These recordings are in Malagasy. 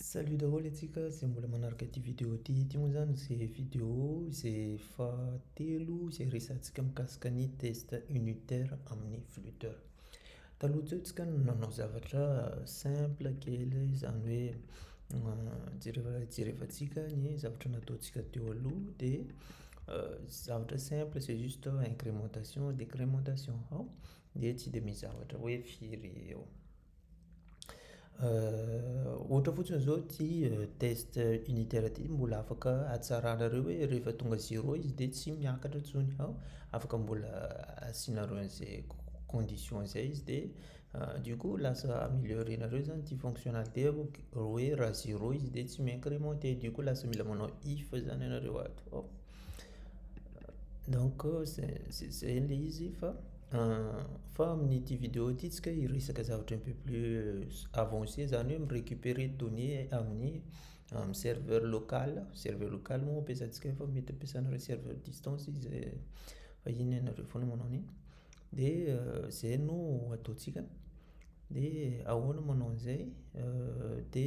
Salut daholo antsika izay mbola manaraka ity vidéo ity, ity moa izany izay vidéo izay fahatelo izay resahantsika mikasika ny test unitaire amin'ny flutteur. Taloha teo isika no nanao zavatra simple kely izany hoe jereva jerevantsika ny zavatra nataontsika teo aloha dia zavatra simple c'est juste incrémentation, décrémentation, dia tsy dia misy zavatra hoe firy eo. Ohatra fotsiny zao ty test unitaire ty mbola afaka hatsaranareo hoe rehefa tonga zéro izy de tsy miakatra intsony fa afaka mbola asianareo an'izay condition zay izy de du coup lasa améliorenareo zany ty fonctionnalité hoe raha zéro izy de tsy mi-incrementé du coup lasa mila manao if zany ianareo ato. Donc zay zay le izy fa fa amin'ity vidéo ity tsika hiresaka zavatra un peu plus avancé zany hoe mi-recuperer données amin'ny amin'ny serveur local, serveur local moa ampiasantsika fa mety ampiasana hoe serveur distance izy fa iny ianareo foana manao an'iny de zay no ataontsika de ahoana manao an'izay de.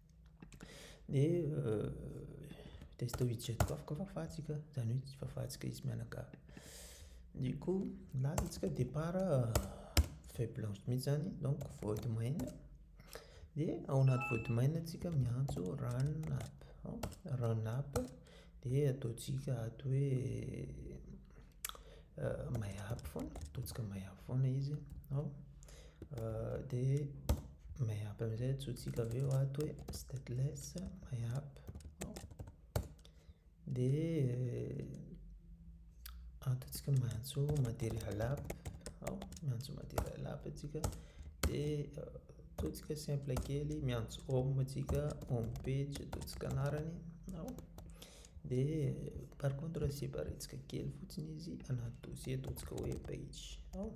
Dia taiza teo izy jeto afaka fafantsika zany hoe tsy fafantsika izy mianakavy. Ny ko milaza tsika départ feuille blanche mintsy zany donc vody maina dia ao anaty vody maina tsika miantso run up, run up dia ataontsika ato hoe. Maiahaby foana, ataontsika maiahaby foana izy an, dia maiahaby amin'izay antsointsika avy eo ato hoe stateless maiahaby an, dia antsointsika miantso material aby an, miantso material aby isika, dia ataontsika simple kely miantso home isika, home page ataontsika anarany. Dia par contre asiam-pa retsaka kely fotsiny izy anaty dosie ataontsika hoe page ao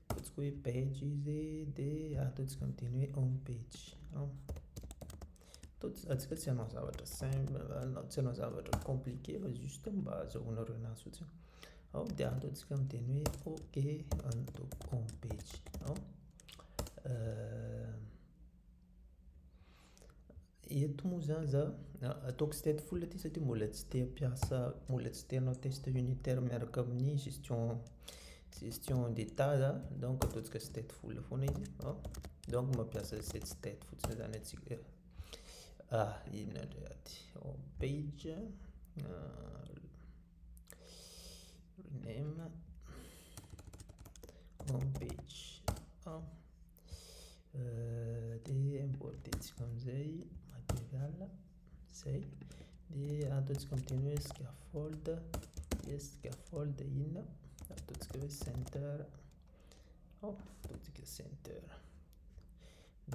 ataontsika hoe page izy dia ataontsika amin'ny teny hoe home page ao ataontsika tsy hanao zavatra simple tsy hanao zavatra compliqué fa juste mba azahoanareo anazy fotsiny ao dia ataontsika amin'ny teny hoe ok anto home page ao euh, Eto moa zany za, ataoko state full ity satria mbola tsy te hampiasa, mbola tsy te hanao test unitaire miaraka amin'ny gestion, gestion d'état za, donc ataontsika state full foana izy, donc mampiasa set state fotsiny zany antsika, inona indray ady, home page, rename, home page. dia amboarintsika amin'izay material izay dia ataontsika amin'ny teny hoe scaffold dia scaffold inona ataontsika hoe center ao ataontsika center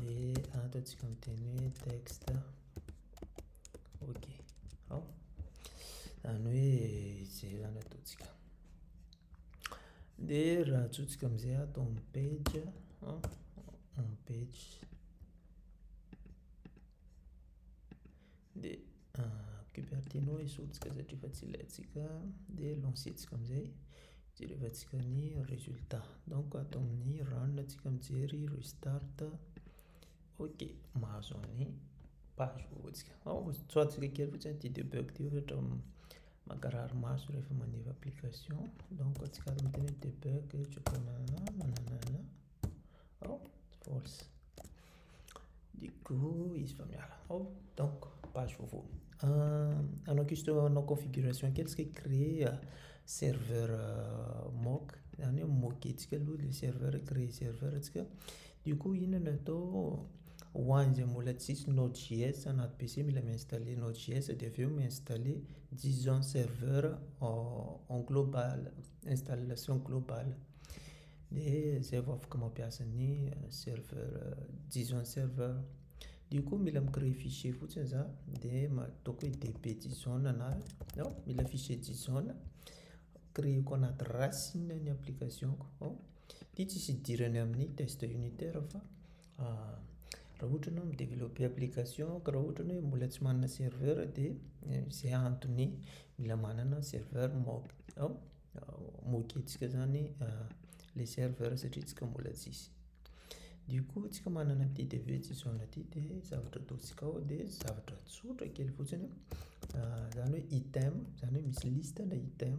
dia ataontsika amin'ny teny hoe texte ok ao izany hoe izay izany ataontsika Dia raha atsotsika amin'izay ato amin'ny page, amin'ny page. Dia Cupertino esorintsika satria efa tsy ilaintsika. Dia lancer-ntsika amin'izay. Jerevantsika ny résultat. Donc ato amin'ny run isika mijery restart. Ok, mahazo an'ny page vaovaontsika. Tsoahantsika kely fotsiny ity debug ity ohatra. Mankarary maso rehefa maneva application donc antsika ary miteny hoe debug choconana nananana oh force du coup izy efa miala oh donc page vaovao hanao juste hanao configuration kely isika créer serveur mock izany hoe mock-ntsika aloha ilay serveur créer serveur ntsika du coup inona no atao Ho an'izay mbola tsisy Node.js anaty PC, mila mi-installer Node.js dia avy eo mi-installer JSON server en global, installation globale. Dia izay vao afaka mampiasa ny serveur, JSON server. Dia koa mila mi-créer fichier fotsiny za, dia ataoko hoe db JSON na, no, mila fichier JSON, créer-ko anaty racine ny application-ko. Ity tsisy idirany amin'ny test unitaire fa Raha ohatra ianao mi-developper application ka raha ohatra ny hoe mbola tsy manana serveur dia izay antony mila manana serveur mock up mock-ntsika zany le serveur satria tsika mbola tsisy. Dia koa tsika manana ity dev tsy zao na ity dia zavatra ataontsika ao dia zavatra tsotra kely fotsiny zany hoe item zany hoe misy liste le item.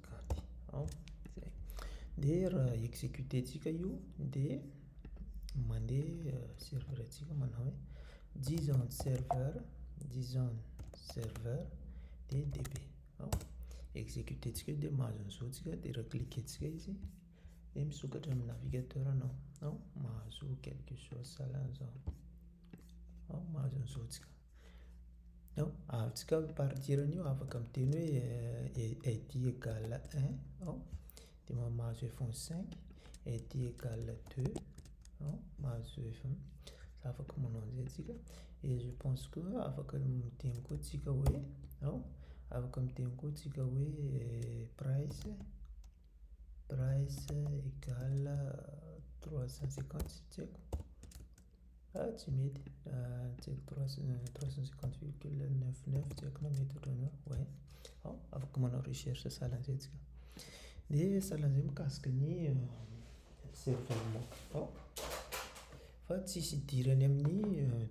Cady ao zay dia raha executer tsika io dia mandeha serveur tsika manao hoe json serveur json serveur dia db ao executer tsika dia mahazo an'izao tsika dia raha cliquer tsika izy dia misokatra amin'ny navigateur anao ao mahazo quelque chose sahala an'izao ao mahazo an'izao tsika. Non, ahatsika ny partir an'io afaka miteny hoe eh, eh, dit égale un, non, dia ma- mahazo f ny cinq, eh, dit égale deux, non, mahazo f ny, afaka manao an'izay tsika, et je pense que afaka miteny koa tsika hoe, non, afaka miteny koa tsika hoe price, price égale trois cent cinquante, tsy haiko. Ah tsy mety ah tsy haiko trois trois cent cinquante virgule neuf neuf tsy haiko na mety ohatran'izao ouais hao afaka manao recherche sahala an'izay tsika de sahala an'izay mikasika ny cerveau nao hao fa tsisy idirany amin'ny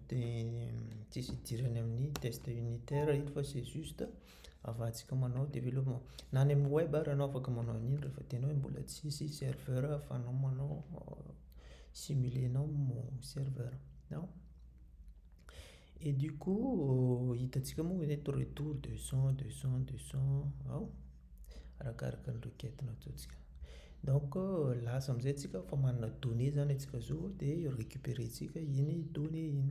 te- tsisy idirany amin'ny test unitaire io fa c'est juste. afahantsika manao développement na any amin'ny web ary ianao afaka manao an'iny rehefa tenao hoe mbola tsy hisy serveur ahafahanao manao simuler anao ny serveur an, et du coup hitantsika moa hoe eto retour deux cent deux cent deux cent an, arakaraka ny requête nataontsika donc lasa amizay tsika efa manana données zany atsika zao de recuperentsika iny données iny.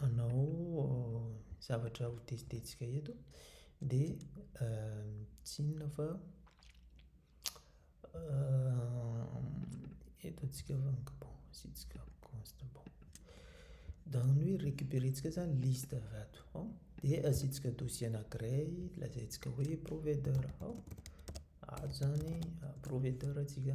Hanao zavatra ho tezitezika eto dia tsy inona fa eto antsika asiantsika const bon. Dans ny hoe récupérer ntsika zany liste avy ato ao dia asiantsika dosie anankiray lazaintsika hoe provider ao, ato zany provider ntsika.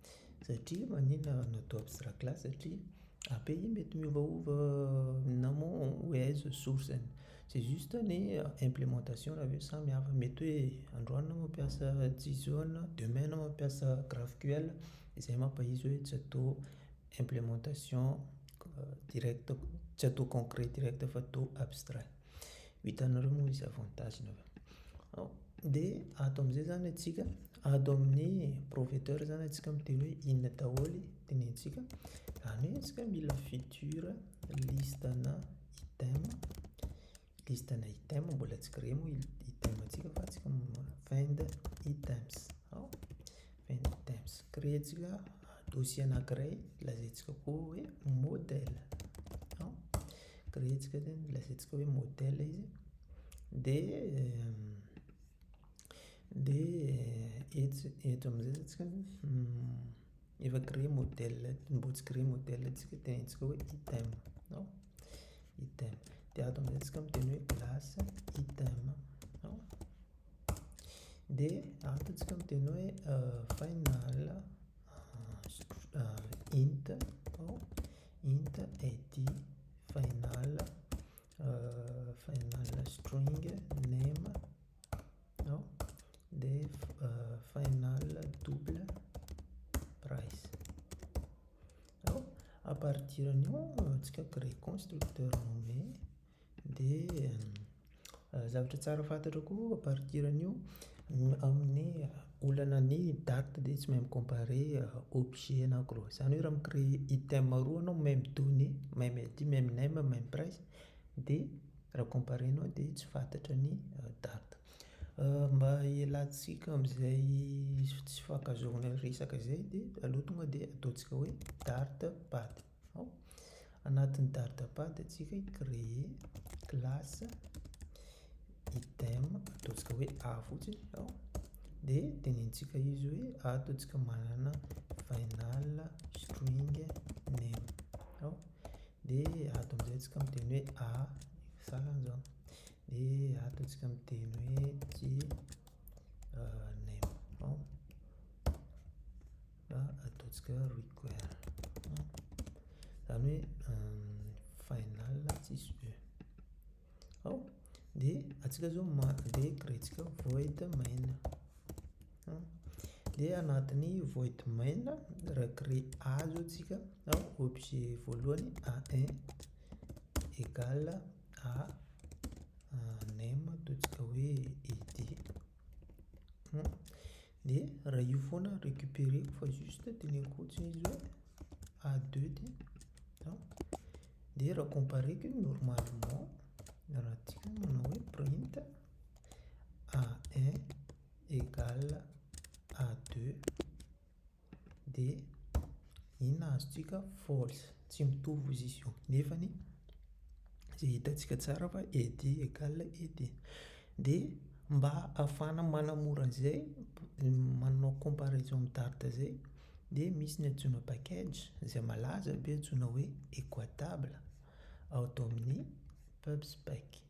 Satria maninona raha natao abstract class satria API mety miovaova na moa hoe aiza source-ny. C'est juste ny implémentation raha hoe samy hafa. Mety hoe androany enao mampiasa Json, demain enao mampiasa GraphQL, izay mampahizo hoe tsy atao implémentation directe, tsy atao concret directe fa atao abstract. Vitanareo moa izy avantage ny avy de ato amizay zany atsika ato amin'ny proveteur zany atsika miteny hoe inona daholo tenentsika zany hoe atsika mila future liste ana item liste ana item mbola tsy créer moa item atsika fa atsika find items ao. Paint Times Kirejila dossier anankiray lazaintsika koa hoe modèle an, kirejika zany lazaintsika hoe modèle izy dia dia etsy eto amin'izay zany tsika efa créer modèle mbola tsy créer modèle tsika dia ataontsika hoe item an, item dia ato amin'izay tsika miteny hoe classe item an. Dia ataontsika miteny hoe final int ao int id final final string name ao dia final double price ao à partir an'io antsika créer constructeur nomer Dia zavatra tsara fantatro koa à partir an'io, amin'ny olana ny date dia tsy mahay mi-comparer objet na gros. Izany hoe raha mi-créer item roa anao meme donné, meme ID, meme name, meme price dia raha comparer-nao dia tsy fantatra ny date. Mba hialantsika amin'izay tsy fankazaonay resaka izay dia aleo tonga dia ataontsika hoe date, date. Ao anatin'ny dardapad antsika i créer classe item ataontsika hoe a fotsiny ao de tenenintsika izy hoe ataontsika manana final string name ao de ato amizay tsika miteny hoe a farany zao de ataontsika miteny hoe j name ao Fa ataontsika hoe require. Izany hoe final tsisy e. Ao, dia antsika izao dia créer-tsika void main. Dia anatin'ny void main, raha créer A izao tsika, ao, objet voalohany A1 égale A name, ataontsika hoe id. Dia raha io foana récupéreko fa juste teneniko fotsiny izy hoe A2 ity an. Dia raha compareko io normalement raha tsika manao hoe print A1 égale A2 dia inona azontsika false tsy mitovy izy io nefa ny izay hitantsika tsara fa ed egal ed dia mba hahafahana manamora an'izay manao comparaison amin'ny dart izay dia misy ny antsoina package izay malaza be antsoina hoe equatable ao ato amin'ny pubspec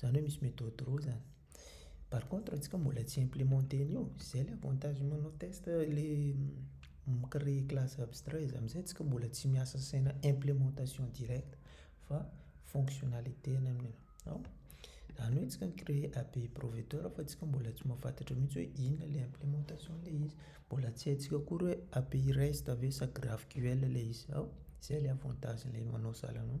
Zany hoe misy méthode roa zany. Par contre antsika mbola tsy implémenté an'io, zay le avantage manao test le mi-créer classe abstrait izy amizay antsika mbola tsy miasa saina implémentation directe fa fonctionnalité ny amin'io. Ao, zany hoe antsika mi-créer API provedor fa antsika mbola tsy mahafantatra mintsy hoe inona le implémentation le izy, mbola tsy haintsika akory hoe API rest ve sa GraphQL le izy. Ao, zay le avantage le manao sahala anao.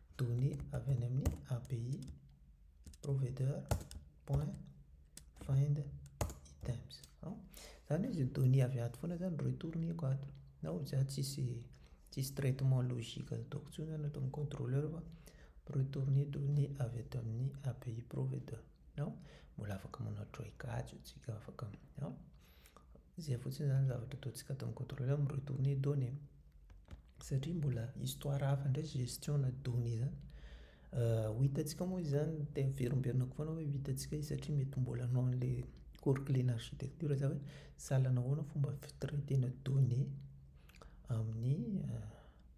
Données avy any amin'ny API provider point find items. Izany hoe izay données avy ato foana izany retourne-ko ato. Na ho za tsisy tsisy traitement logique ataoko intsony izany ato amin'ny contrôleur fa retourne données avy ato amin'ny API provider. Mbola afaka manao try catch isika afaka. Izay fotsiny izany zavatra ataontsika ato amin'ny contrôleur mirohy tourner données satria mbola histoire hafa indray gestion na données izany ho hitantsika moa izy izany dia averimberenako foana hoe ho hitantsika izy satria mety mbola hanao an'ilay cours clé na architecture za hoe sahala nahoana fomba fitraitena données amin'ny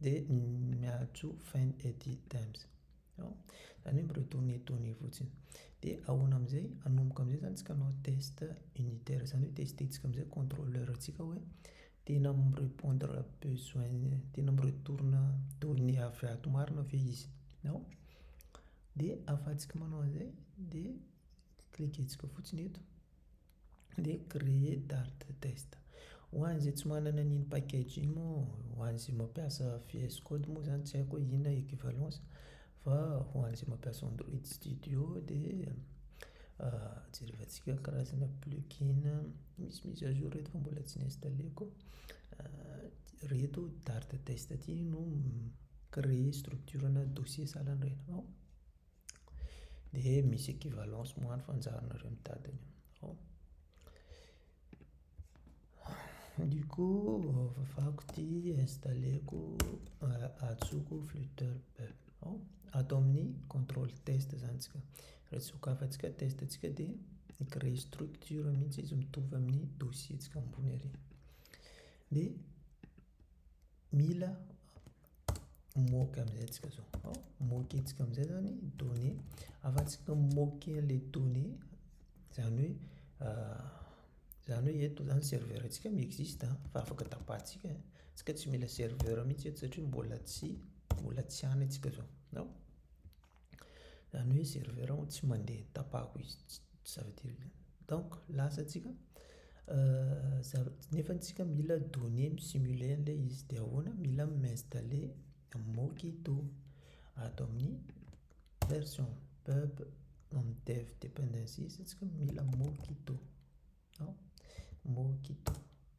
Dia miajo Find Eddy Times. An? Zany hoe mi-retourner données fotsiny. Dia ahoana amin'izay? Hanomboka amin'izay zany tsika hanao test unitaire. Zany hoe tester-tsika amin'izay contrôleur-tsika hoe tena mi-repondre besoin, tena mi-retourne données avy ato marina ve izy. An? Dia ahafahantsika manao an'izay dia cliquer-tsika fotsiny eto. dia créer dart test ho an'izay tsy manana an'iny package iny moa ho an'izay mampiasa VS code moa zany tsy haiko hoe inona equivalence fa ho an'izay mampiasa android studio dia jerevantsika karazana plugin misy mise à jour eto fa mbola tsy ni-installer-ko reto dart test ty no mi-créer structure ana dossier sahalan'ny reny. Dia misy equivalence moa any fanjarinareo mitady an'io. Ao. Du coup, fafako ity, installeko, ajotsoko flutter. Ao, ato amin'ny contrôle test zany tsika. Raha tsy sokafantsika test antsika dia mi-créer structure mihitsy izy mitovy amin'ny dossier-ntsika ambony ary. Dia. mila moquer amin'izay antsika izao. Ao, moquer-ntsika amin'izay izany données. Afa-tsy moquer ilay données, izany hoe izany hoe eto izany serveur-ntsika mi-existe fa afaka tapahintsika. Isika tsy mila serveur mihitsy eto satria mbola tsy mbola tsy any antsika izao. Ao. Zany hoe serveur ao tsy mandeha tapahako izy ça veut dire donc lasa tsika nefa tsika mila donner mi-simuler anle izy de ahoana mila mi-installer mockito ato amin'ny version pub nom dev dependencies tsika mila mockito mockito.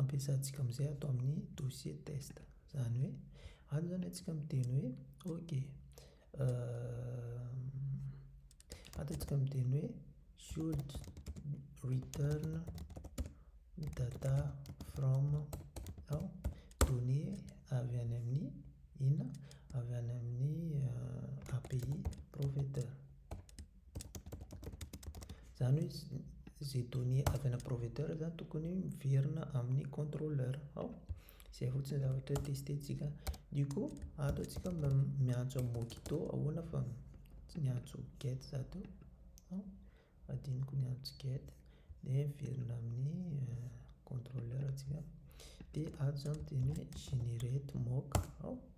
ampiasantsika amin'izay ato amin'ny dossier test. Izany hoe, ato izany antsika miteny hoe, ok, ato antsika miteny hoe should return data from ao données avy any amin'ny inona avy any amin'ny API provider. Izany hoe izay données avy ana provider izany tokony miverina amin'ny contrôleur ao izay fotsiny zavatra testetsika du coup ato atsika miantso amin'ny mokito ahoana fa tsy miantso get za teo ao adinoko miantso get de miverina amin'ny euh, contrôleur atsika de ato izany teny hoe generate mock ao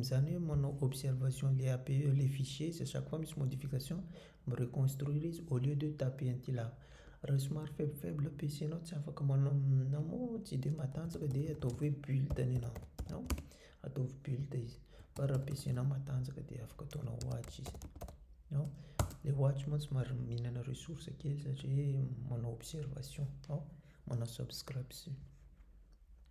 Izany hoe manao observation le AP eo le fichier izay chaque fois misy modification mi-reconstruire izy au lieu de taper un tila. Raha somary faible faible PC nao tsy afaka manao na moa tsy de matanjaka de ataovy hoe build ny anao no ataovy build izy fa raha PC nao matanjaka de afaka ataonao watch izy no le watch moa somary mihinana ressource kely satria manao observation no manao subscription.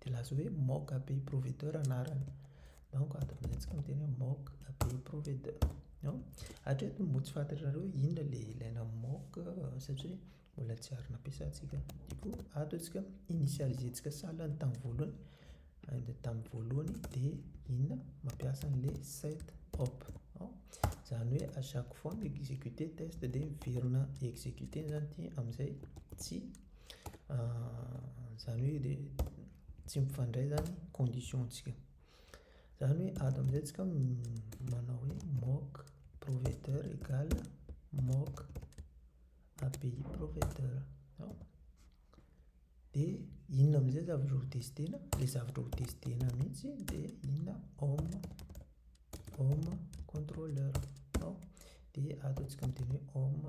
Dia laza hoe mock abbey provedeur anarany. Donc ato amin'izay antsika miteny hoe mock abbey provedeur. Non? Hatreto mbola tsy fantatrareo inona le ilaina amin'ny mock satria mbola tsy ary nampiasantsika. Du coup, ato antsika initialiser-ntsika salle ny tamin'ny voalohany, and tamin'ny voalohany dia inona? Mampiasa an'le set op. Non? Izany hoe à chaque fois mi-executer test dia miverina executer-ny izany ity amin'izay tsy Izany hoe dia tsy mifandray izany ny condition-tsika. Izany hoe ato amin'izay tsika manao hoe mock provedeur égale mock API provedeur. Dia inona amin'izay zavatra ho testena? Ilay zavatra ho testena mihitsy dia inona? Home, home controller. Dia ato isika miteny hoe home.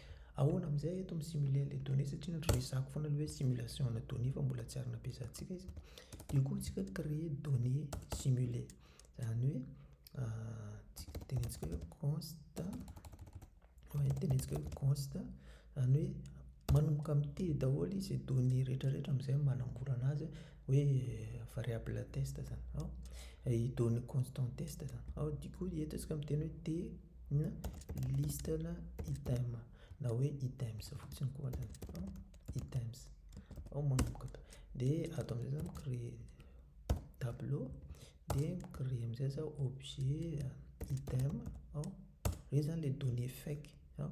Ahoana amin'izay eto mi simuler ilay donnée satria ny resahako foana aloha hoe simulation ana donnée fa mbola tsy ary nampiasantsika izy. Dia koa tsika créer donnée simuler. Izany hoe tsika tenentsika hoe const hoe tenentsika hoe const izany hoe manomboka amin'ny T daholo izy donnée rehetra rehetra amin'izay manamborana azy hoe variable test izany. Ao i donnée constant test izany. Ao dia koa eto isika miteny hoe T. na liste na item na hoe items fotsiny koa aza no items ao manomboka tao dia ato amin'izay za mi-creer tableau dia mi-creer amin'izay za objet item ao reo zany le données fake an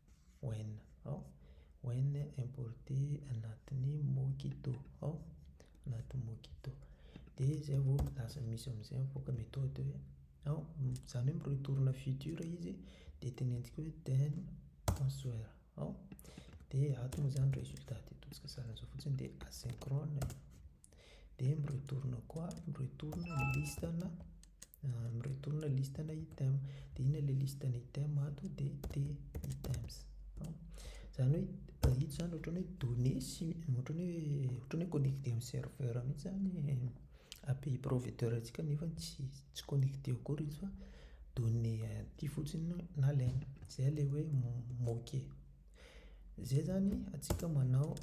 When ao When importé anatin'ny Mockito ao anaty Mockito dia izay vao lasa misy amin'izay mivoaka méthode hoe ao izany hoe mi-retourne futur izy dia teneniko hoe then answer ao dia ato moa izany résultat dia ataontsika sarin'izao fotsiny dia asynchrone dia mi-retourne koa mi-retourne ny liste na mi-retourne ny liste na item dia inona ilay liste na item ato dia t items izany hoe ito izany ohatran'ny hoe données sy ohatran'ny hoe ohatran'ny hoe connecté amin'ny serveur mihitsy izany ny API provider antsika nefa tsy tsy connecté akory izy fa données aty fotsiny no nalaina izay ilay hoe moquer Izay izany antsika manao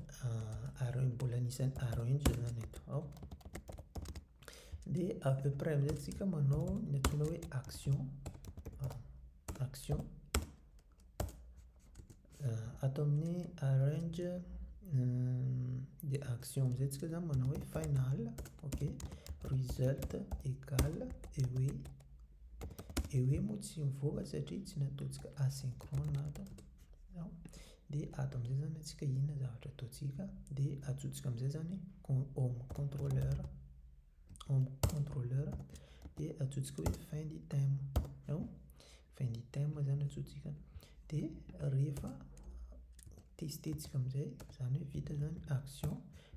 areo mbola anisan'ny areo ihany izao izany eto ao. Dia à peu près amin'izay antsika manao ny antsoina hoe action action ato amin'ny arrange dia action amin'izay antsika izany manao hoe final ok result égale et oui. dia hoe moa tsy mivoaka satria tsy nataontsika asynchrone ato an, dia ato amin'izay izany antsika inona zavatra ataontsika dia ajobontsika amin'izay izany home controleur, home controleur dia ajobontsika hoe find item ao, find item izany ajobontsika dia rehefa tester-tsika amin'izay izany hoe vita izany action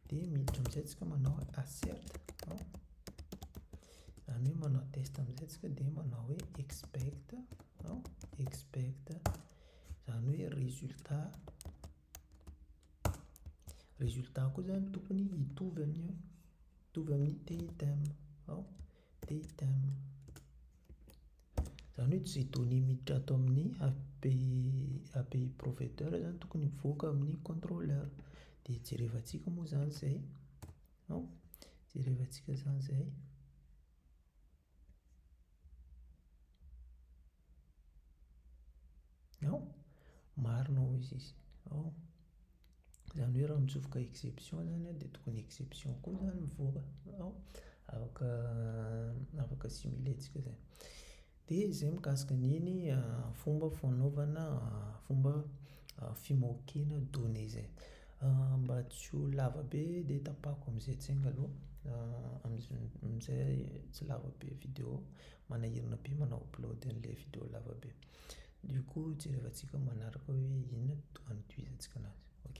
dia miditra amin'izay isika manao assert ao. Zany hoe manao test amin'izay tsika dia manao hoe expect an, expect zany hoe résultat, résultat koa zany tokony hitovy amin'ny hoe hitovy amin'ny t-item an, t-item zany hoe izay données miditra ato amin'ny API API provider zany tokony mivoaka amin'ny controller, dia jerevantsika moa zany izay. An, jerevantsika izany izay. An, marina hoy izy izy. An, izany hoe raha mitsofoka exception izany an, dia tokony exception koa izany mivoaka. An, afaka afaka simuler-ntsika izay. Dia izay mikasika an'iny fomba fanaovana fomba fimoakena données zay. Mba tsy ho lava be dia tapahako amin'izay tsenga aloha amin'izay tsy lava be video manahirana be manao upload an'ilay video lava be. Dia koa jerevantsika manaraka hoe inona no antohizantsika anazy. Ok.